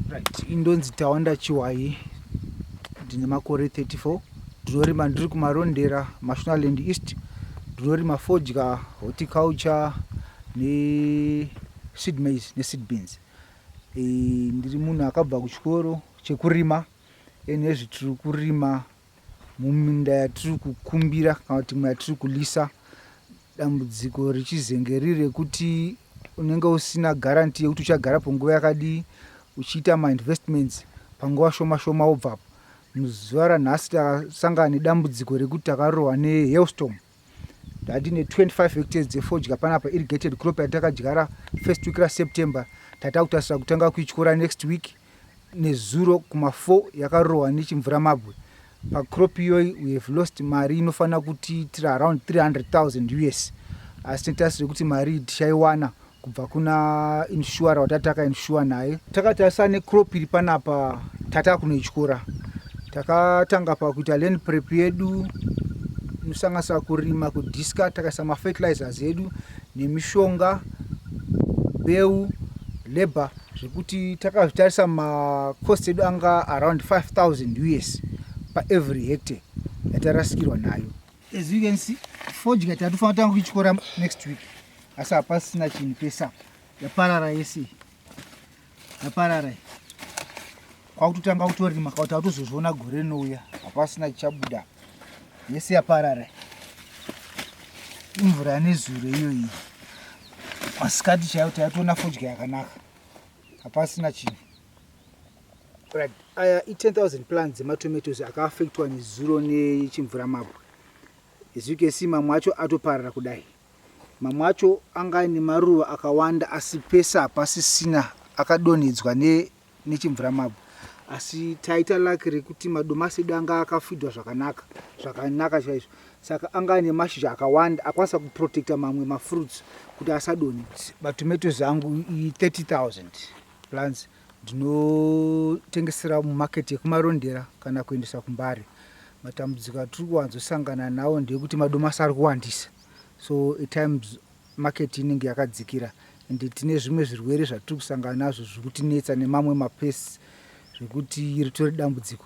right indonzi tawanda chiwayi ndine makore 34 ndinorima ndiri kumarondera mashonaland east ndinorima fodya horticulture neseed maize neseed beans e, ndiri munhu akabva kuchikoro chekurima ene zvetiri kurima Muminda yatiri kukumbira kana kuti imwe yatiri kulisa dambudziko richizenge riri rekuti unenge usina guarantee yekuti uchagara panguva yakadii uchiita mainvestments panguva shoma shoma wobvapo muzuva ranhasi takasangana nedambudziko rekuti takarohwa nehailstorm tatine 25 hectares dzefodya panapa irrigated crop yatakadyara first week raseptember tatakutasira kutanga kuityora next week nezuro kuma4 yakarohwa nechimvura mabwe pacrop iyoyi we have lost mari inofanira kutiitira around 300 000 us asi titasire kuti mari tichaiwana kubva kuna insurer watati takainsure naye takati asa necrop iri panapa tata kunoityora takatanga pakuita land prep yedu nosanganisa kurima kudiska takaisa mafertilizers edu nemishonga beu labor zvekuti takazvitarisa macost edu anga around 5000 us paevery hectare yatarasikirwa nayo As you can see, fodya tatofanira tanga kuityora next week. Asi hapasina chinhu pese apa. Yaparara yese. Yaparara. Kwakutotanga kutorima kauti atozozviona gore rinouya. Hapasina chichabuda. Yese yaparara. Imvura nezuro iyo iyi. Masikati chaiyo taitoona fodya yakanaka. Hapasina chinhu. Right. Aya i 10,000 plants dzematomatoes akaafektwa nezuro nechimvura mabwe. As you can see mamwe acho atoparara kudai. Mamwe acho anga aine maruva akawanda asi pese hapasisina akadonhedzwa ne, nechimvura mabwe. Asi taita laki rekuti madomasi edu anga akafidwa zvakanaka, zvakanaka chaizvo. Saka anga aine mashizha akawanda akwanisa kuprotecta mamwe mafruits kuti asadonhe. Matomatoes angu i 30,000. Plants ndinotengesera mumarket yekumarondera kana kuendesa kumbare. Matambudziko atiri kuwanzosangana nawo ndeyekuti madomasi ari kuwandisa so at times market inenge yakadzikira and tine zvimwe zvirwere zvatiri kusangana nazvo zviri kutinetsa nemamwe mapests zvekuti ritori dambudziko.